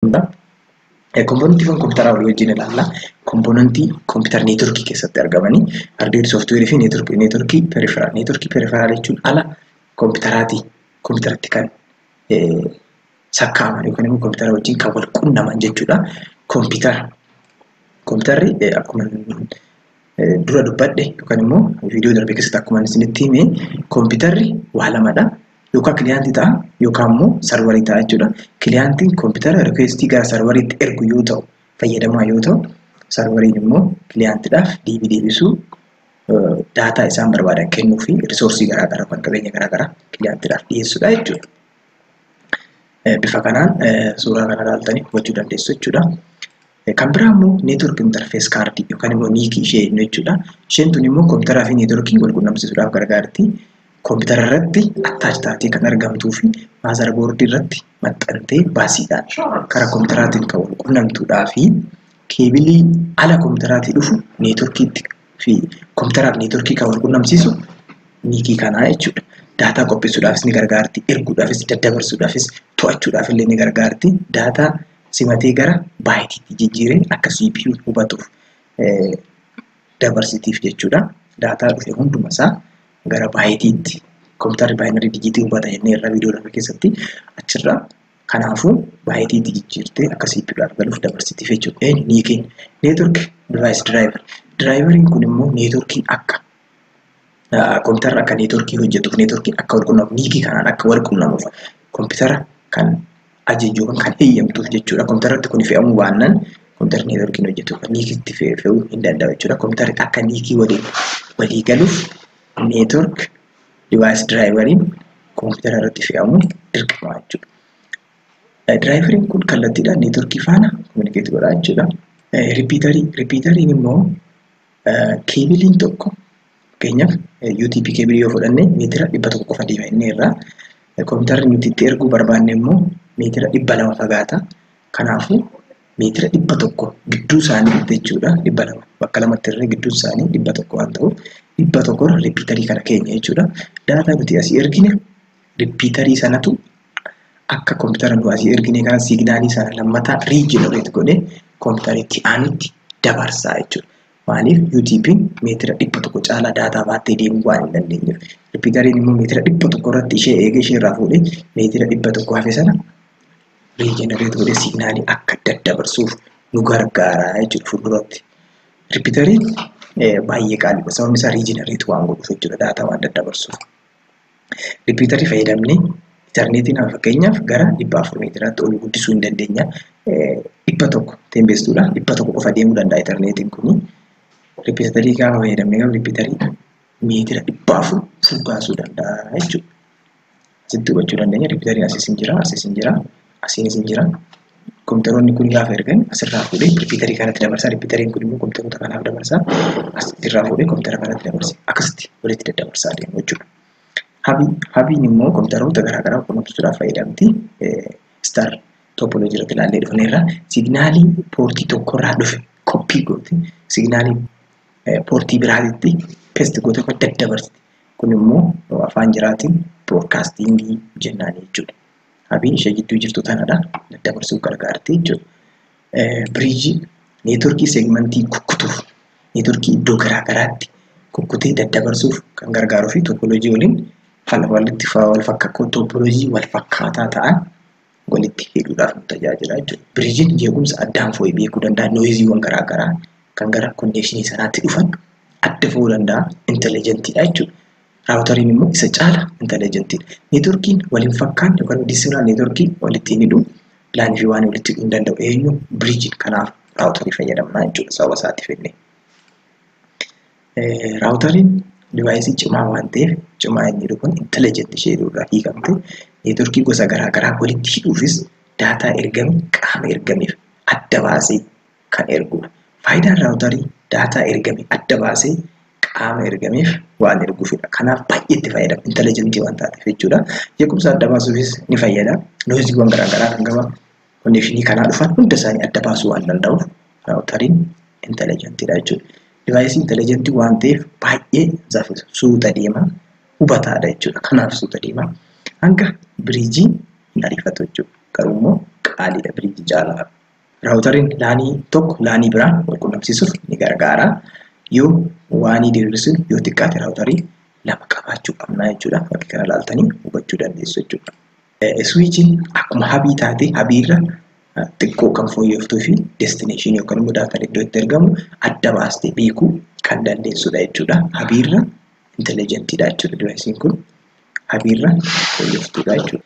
qabna. Komponentii kan kompiitaraa walii wajjin ilaalla. Komponentii kompiitara neetworkii keessatti argamanii hardweer, sooftiweerii fi neetworkii neetworkii periferaal. Neetworkii periferaal jechuun ala kompiitaraatii kompiitaratti kan sakkaa'aman yookiin immoo kompiitara wajjin kan wal qunnaman jechuudha. Kompiitara kompiitarri akkuma dura dubbadhe yookaan immoo viidiyoo darbe keessatti akkuma isinitti hime kompiitarri waa lamadha. Yookaan kiliyaantii ta'a yookaan immoo sarvarii ta'a jechuudha. Kiliyaantiin kompiitara rikweestii gara sarvariitti ergu yoo ta'u fayyadamaa yoo ta'u sarvariin immoo kiliyaantiidhaaf deebii deebisuu daataa isaan barbaadan kennuu fi risoorsii garaagaraa kan qabeenya garaagaraa kiliyaantiidhaaf dhiyeessuudha jechuudha. Bifa kanaan suuraa kana ilaaltanii hubachuu dandeessu jechuudha. Kan biraa immoo network interface card yookaan immoo niikii ishee jennu jechuudha. Isheen tun immoo kompiitaraa fi networkiin wal qunnamsiisuudhaaf gargaarti. Kompiitara irratti attach taatee kan argamtuu fi maazara boordii irratti maxxantee baasiidhaan karaa kompiitaraatiin kan wal qunnamtuudhaa fi keebilii ala kompiitaraatii dhufu networkiitti fi kompiitaraa fi networkii kan wal qunnamsiisu niikii kanaa jechuudha. Daataa qopheessuudhaafis ni gargaarti, erguudhaafis, daddabarsuudhaafis, to'achuudhaaf illee ni gargaarti. Daataa simatee gara baayitiitti jijjiiree akka CPU hubatuuf dabarsitiif jechuudha. Daataa dhufe hunduma isaa gara baayitiitti kompiitarri baayinarii dijiitii hubata jennee irra viidiyoo lama keessatti achirra kanaafuu baayitiitti jijjiirtee akka CPU argaluuf dabarsitiif jechuudha. Niikiin neetwork device driver. Diraayiveriin kun immoo neetworkii akka kompiitarri akka neetworkii hojjetuuf neetworkiin akka wal qunnamu niikii kanaan akka wal qunnamuuf kompiitara kan ajajju yookaan kan heeyyamtuuf jechuudha. Kompiitarratti kun fe'amuu baannaan kompiitarri neetworkiin hojjetuuf niikiitti fe'uu hin danda'u jechuudha. Kompiitarri akka niikii walii walii galuuf neetwork divaayis diraayivariin kompiitara irratti fe'amuun dirqama jechuudha. Diraayivariin kun kallattiidhaan neetworkii faana kominikeetii godha jechuudha. Ripiitarii ripiitariin immoo Keebiliin tokko fakkeenyaaf UTP keebilii yoo fudhanne meetira dhibba tokko qofa deema inni irraa kompiitarri nuti itti erguu barbaanne immoo meetira dhibba lama fagaata. Kanaafuu meetira dhibba tokko gidduu isaanii jechuudha dhibba lama bakka lamatti irree gidduu isaanii dhibba tokko waan ta'uuf dhibba tokko ripiitarii kana keenya jechuudha. Daataa nuti asii ergine Ripiitarii sanatu akka koompitara nu asii erginee kana siignaalii sana lammataa riijenereet godhee koompitara itti aanutti dabarsaa jechuudha. Maaliif UTP'n meetira dhibba tokko caalaa daataa baattee deemuu waan hin dandeenyeef. Ripiitariin immoo meetira dhibba tokko irratti ishee eegee ishee irraa fuudhee meetira dhibba tokko hafe sana riijenereet godhee siignaalii akka daddabarsuuf nu gargaara jechuudha fuulduratti. Ripiitariin baay'ee qaaliidha sababni isaa riijenereet waan godhuuf jechuudha daataa waan daddabarsuuf. Ripiitarii fayyadamnee intarneetii nama fakkeenyaaf gara dhibba afur meetiraatti ol guddisuu hin dandeenya. Dhibba tokko teembeestuudha. Dhibba tokko qofa deemuu danda'a intarneetiin kuni. Ripiitarii gaafa fayyadamne garuu ripiitarii meetira dhibba afur furgaasuu danda'a jechuudha. Asitti hubachuu dandeenya ripiitariin asis hin jira asis hin jira. asiin isin jira. Kompiitaroonni kun gaafa ergan asirraa fuudhee ripiitarii kanatti dabarsa. Ripiitariin kun immoo kompiitaroota kanaaf dabarsa. Asirraa fuudhee kompiitara kanatti dabarsa. Akkasitti walitti daddabarsaa adeemu jechuudha. Habii habiin immoo kompiitaroota garaagaraa qunnamsiisuudhaaf fayyadamti. Star topology irratti ilaallee dhufneerra. Signaalii poortii tokkorraa dhufe koppii goote signaalii poortii biraatitti pest goote kan daddabarsti. Kun immoo afaan jiraatiin broadcasting jennaan jechuudha. habii ishee gidduu jirtu tanadha daddabarsuuf gargaarti jechuudha. Biriijii neetworkii seegmentii kukkutuuf neetworkii iddoo garaa garaatti kukkutee daddabarsuuf kan gargaaruu fi toopoloojii waliin walitti wal fakkakkoo toopoloojii wal fakkaataa ta'an walitti hidhuudhaaf nu tajaajila jechuudha. Biriijiin jeequmsa addaan fo'ee beekuu danda'a nooyiziiwwan garaa garaa kan gara konneekshinii sanaatti dhufan adda fo'uu danda'a intelligentidha jechuudha. Raawutariin immoo isa caala intelligent dha. Neetworkiin wal hin fakkaanne yookaan disiraan neetworkii walitti hin hidhu. Laan fi waan walitti hidhuu hin danda'u. Eenyu biriijiin kanaaf raawutarii fayyadamna jechuudha sababa isaatti fidne. Raawutariin divaayisii cimaa waan ta'eef cimaa inni jedhu kun intelligent ishee jedhu irraa hiikamte neetworkii gosa garaa garaa walitti hidhuufis daataa ergame qaama ergameef adda baasee kan erguudha. Faayidaan raawutarii daataa ergame adda baasee qaama ergameef waan erguufidha. Kanaaf baay'ee itti fayyadama. Intelijentii waan taateef jechuudha. Jeequmsa adda baasuufis ni fayyada. Loojiiwwan garaagaraa kan gama konnekshinii kanaa dhufan hunda isaanii adda baasuu waan danda'uuf raawutariin intelijentiidha jechuudha. Divaayisii intelijentii waan ta'eef baay'ee saffisa suuta deema hubataadha jechuudha. Kanaaf suuta deema. Hanga biriijii hin ariifatu jechuudha. Garuu immoo qaaliidha biriijii caalaa. Raawutariin laanii tokko laanii biraa wal qunnamsiisuuf ni gargaara. Yoo waanii diriirsuun yoo xiqqaate raawutarii lama qabaachuu qabna jechuudha. Fakkii kana ilaaltanii hubachuu dandeessu jechuudha. Iswiichiin akkuma habii taatee habiirra xiqqoo kan fooyyoftuu fi destineeshinii yookaan immoo daataan iddoo itti ergamu adda baastee beekuu kan dandeessudha jechuudha. Habiirra intelligentidha jechuudha divaayisiin kun. Habiirra fooyyoftuudha jechuudha.